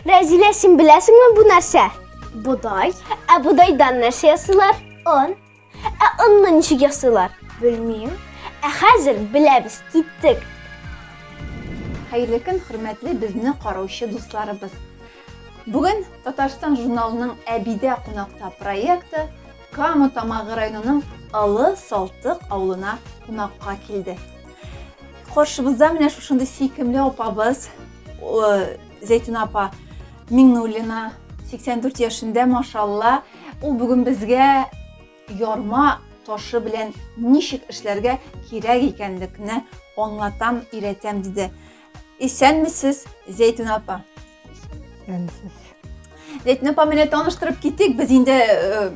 Рәзилә, син беләсеңме бу нәрсә? Бодай. Ә бодайдан нәрсә ясыйлар? Он. Ә онны ничек ясыйлар? Белмим. Ә хәзер беләбез, киттек. Хәерле көн, хөрмәтле безне караучы дусларыбыз. Бүген Татарстан журналының Әбидә кунакта проекты Кама Тамагы районының Алы Салтык авылына кунакка килде. Каршыбызда менә шушындый сөйкемле апабыз Зәйтүнә апа Миңнуллина 84 яшендә, машалла. Ул бүген безгә ярма ташы белән ничек эшләргә кирәк икәнлекне аңлатам, өйрәтәм диде. Исәнмесез, Зәйтүн апа. Исәнмесез. Зәйтүн апа менә таныштырып китик. Без инде э,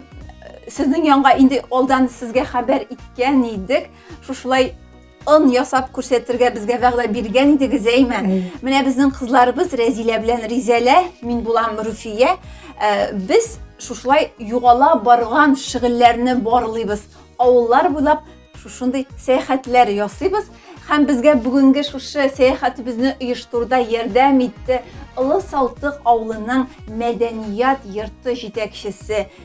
сезнең янга инде алдан сезгә хәбәр иткән идек. Шушылай он ясап күрсәтергә безгә вәгъдә биргән идегез, әйме? Менә безнең кызларыбыз Рәзилә белән Ризәлә, мин булам Руфия. Э, без шушылай югала барган шигыльләрне барлыйбыз. Авыллар буйлап шушындый сәяхәтләр ясыйбыз һәм безгә бүгенге шушы сәяхәтебезне оештыруда ярдәм итте Олы Салтык авылының мәдәният йорты җитәкчесе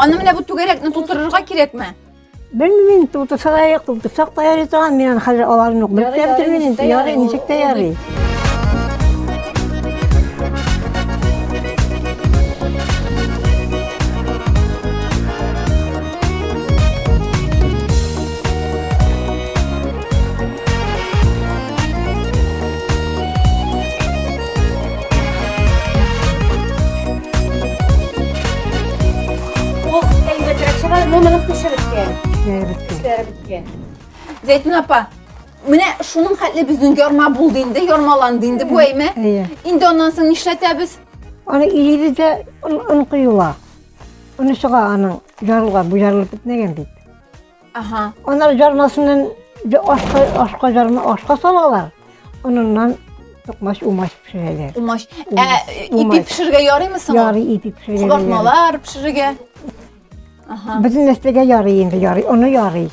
Аны менә бу түгәрәкне тутырырга кирәкме? Белмим, тутырса да юк, тутырсак та ярый торган, мин аны хәзер аларны ук белеп тә бетермим инде, ярый, ничек тә ярый. Зәйтүн апа, менә шуның хәтле безнең ярма булды инде, ярмаланды инде бу әйме. Инде аннан соң нишләтәбез? Аны илибез дә он коела. Оны чыга аның ярылган, бу ярылып бетмәгән бит. Ага. Анар жармасыннан ашка, ашка жарма, ашка салалар. Аныннан токмач умач пешерәләр. Умач. Ә ипи пешерергә ярыймы соң? Ярый ипи пешерергә. Кабартмалар пешерергә. Ага. Безнең нәрсәгә ярый инде, ярый, аны ярый.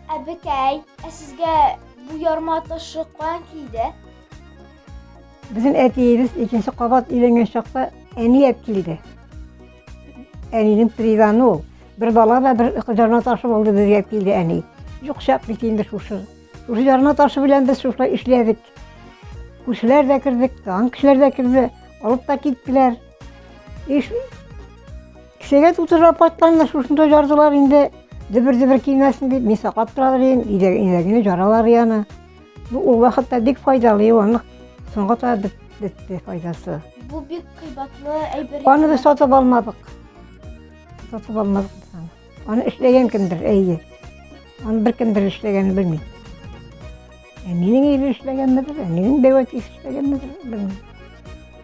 Ә бекәй, ә сезгә бу ярма ташы каян килде? Безнең әтиебез икенче кабат өйләнгән чакта әни әп килде. Әнинең призаны ул. Бер бала да бер кызарма ташы булды безгә килде әни. Юк чак бит инде шушы. Шушы ярма ташы белән без шушылай эшләдек. Күршеләр дә кердек, тагын кешеләр дә керде, алып та киттеләр. Иш кешегә тутырып апатларны шушында жардылар инде. Дебер-дебер килмәсен дип, мин саклап торалар идем, иләгенә жаралар яны. Бу ул вакытта бик файдалы юанлык. Соңга таба бетте файдасы. Бу бик кыйбатлы әйбер. Аны без сатып алмадык. Сатып алмадык без аны. Аны эшләгән кемдер, әйе. Аны беркемдер эшләгәнен белмим. Әнинең ире эшләгәнмедер, әнинең бәү әтисе эшләгәнмедер, белмим.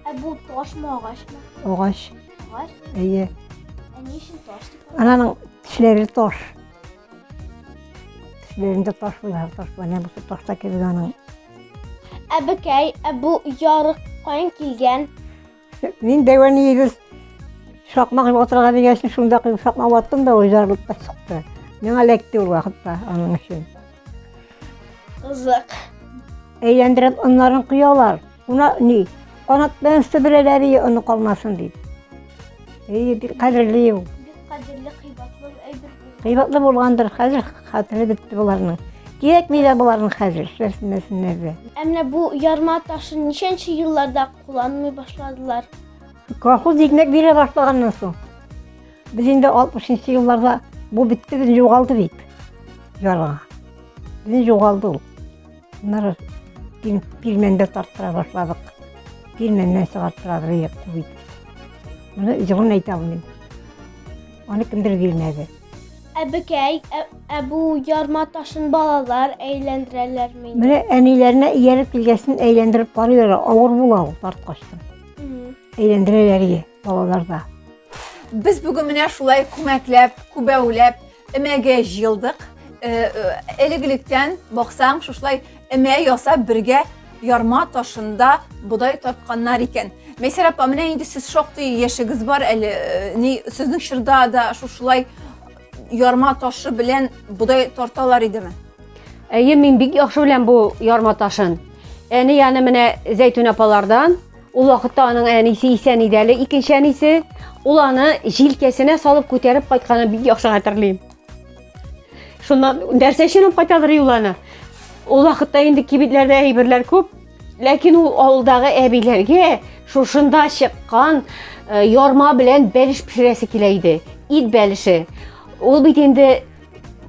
Ә бу ташмы, агачмы? Агач, Агач. әйе. Ә ни өчен таш дип атала? Ананың тешләре таш. Тешләрендә таш буйлар, таш буйлар. Менә бусы ташта кебек аның. Әбекәй, ә бу ярык каян килгән? Мин дәвә нигез шакмак отырга дигәсен шунда шакмак ваттым да ул жарылып та чыкты. Миңа эләкте ул вакытта аның өчен. Кызык. Әйләндереп оннарын коялар. Уна ни? Канат белән сиберәләр ие оны калмасын дип. Ие бик кадерле ул. Бик кадерле кыйбатлы әйбер. Кыйбатлы булгандыр. Хәзер хатыны бетте боларның. Кирәкми дә боларның хәзер эшләсеннәр дә. Ә менә бу ярма ташын ничәнче елларда кулланмый башладылар. Колхоз икмәк бирә башлаганнан соң, без инде 60-нчы елларда бу бетте, без югалды бит. Ярга. Без югалды ул. Ныр пирмәндә тарттыра башладык. Пирмәннән чыгарттыра бит. Моны җырын әйтә алмыйм. Аны кемдер бирмәде. Әбекәй, ә, ә бу ярма ташын балалар әйләндерәләр мени? Менә әниләренә ияреп килгәсен әйләндереп карыйлар, авыр була ул тарткачтан. Әйләндерәләр ие балаларда. Без бүген менә шулай күмәкләп, күбәүләп, эмәгә җыелдык. Э, э, Элек-электән баксаң, шушылай эмә ясап бергә ярма ташында бодай тартканнар икән. Мәйсәр апа, менә инде сез шактый яшегез бар әле. Э, ни сезнең чорда да шушылай ярма ташы белән бодай тарталар идеме? Әйе, мин бик яхшы беләм бу ярма ташын. Әни яны менә Зәйтүн апалардан Ул вакытта аның әнисе исән иде әле, икенче әнисе. Ул аны җилкәсенә салып күтәреп кайтканын бик яхшы хәтерлим. Шуннан нәрсә өчен алып кайтадыр юланы? Ул вакытта инде кибетләрдә әйберләр күп, ләкин ул авылдагы әбиләргә шушында чыккан э, ярма белән бәлеш пешерәсе килә иде. Ит бәлеше. Ул бит инде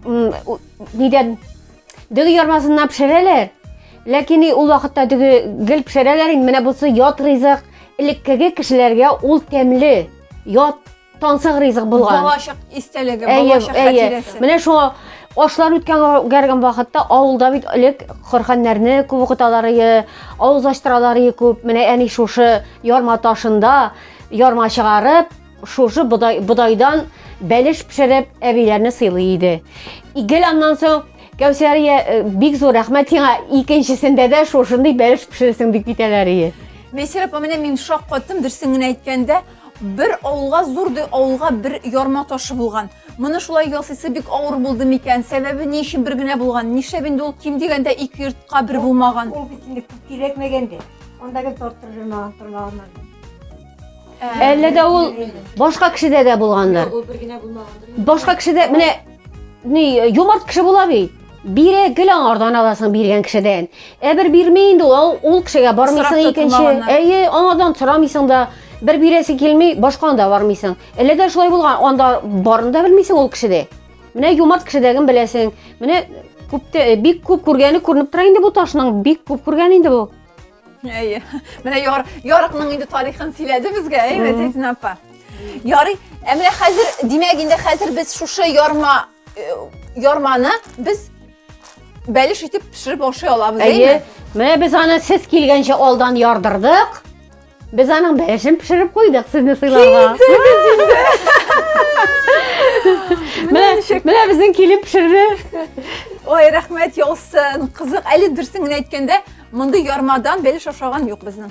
нидән дөге ярмасыннан пешерәләр. Ләкин ул вакытта дөге гел пешерәләр инде. Менә бусы ят ризык. Элеккеге кешеләргә ул тәмле. Ят Тансык ризык булган. Балачак истәлеге, балачак хатирәсе. Менә шуңа ашлар үткән гәргән вакытта авылда бит элек корханнарны күп укыталар иде, авыз ачтыралар иде күп. Менә әни шушы ярма ташында ярма чыгарып, шушы бодай, бодайдан бәлеш пешереп әбиләрне сыйлый иде. Игел аннан соң Кәүсәрия э, бик зур рәхмәт сиңа. Икенчесендә дә шушындый бәлеш пешерсең дип китәләр иде. Мейсер апа, менә мин шаккаттым, дөресен генә әйткәндә, Бер авылга зур ди авылга бер ярма ташы булган. Моны шулай ясыйсы бик авыр булды микән? Сәбәбе ни өчен бер генә булган? Нишләп инде ул ким дигәндә ике йортка бер булмаган? Ул бит инде күп кирәкмәгән дә. Анда гел тартып җөрмәгән тормагыннан. Әллә дә ул башка кешедә дә булгандыр. Ул бер генә булмагандыр. Башка кешедә менә ни юмарт кеше була бит. Бирә гел аңардан аласың биргән кешедән. Ә бер бирми инде ул, ул кешегә бармыйсың икенче. Әйе, аңардан сорамыйсың да, бер бирәсе килми, башканы да бармыйсың. Әле дә шулай булган, анда барын да белмисең ул кешедә. Менә юмарт кешедәген беләсең. Менә күптә э, бик күп күргәне күренеп тора инде бу ташның, бик күп күргән инде бу. Әйе. Менә яр, ярыкның инде тарихын сөйләде безгә, әйе, Зәйтүнә апа. Ярый, ә менә хәзер, димәк, инде хәзер без шушы ярма э, ярманы без бәлеш итеп пешереп ашый алабыз, әйе. Менә без аны сез килгәнчә алдан ярдырдык. Без аның бәлешен пешереп куйдык сезне сыйларга. Менә менә безнең килеп пешерде. Ой, рәхмәт яусын. Кызык, әле дөресен генә әйткәндә, мондый ярмадан бәлеш ашаган юк безнең.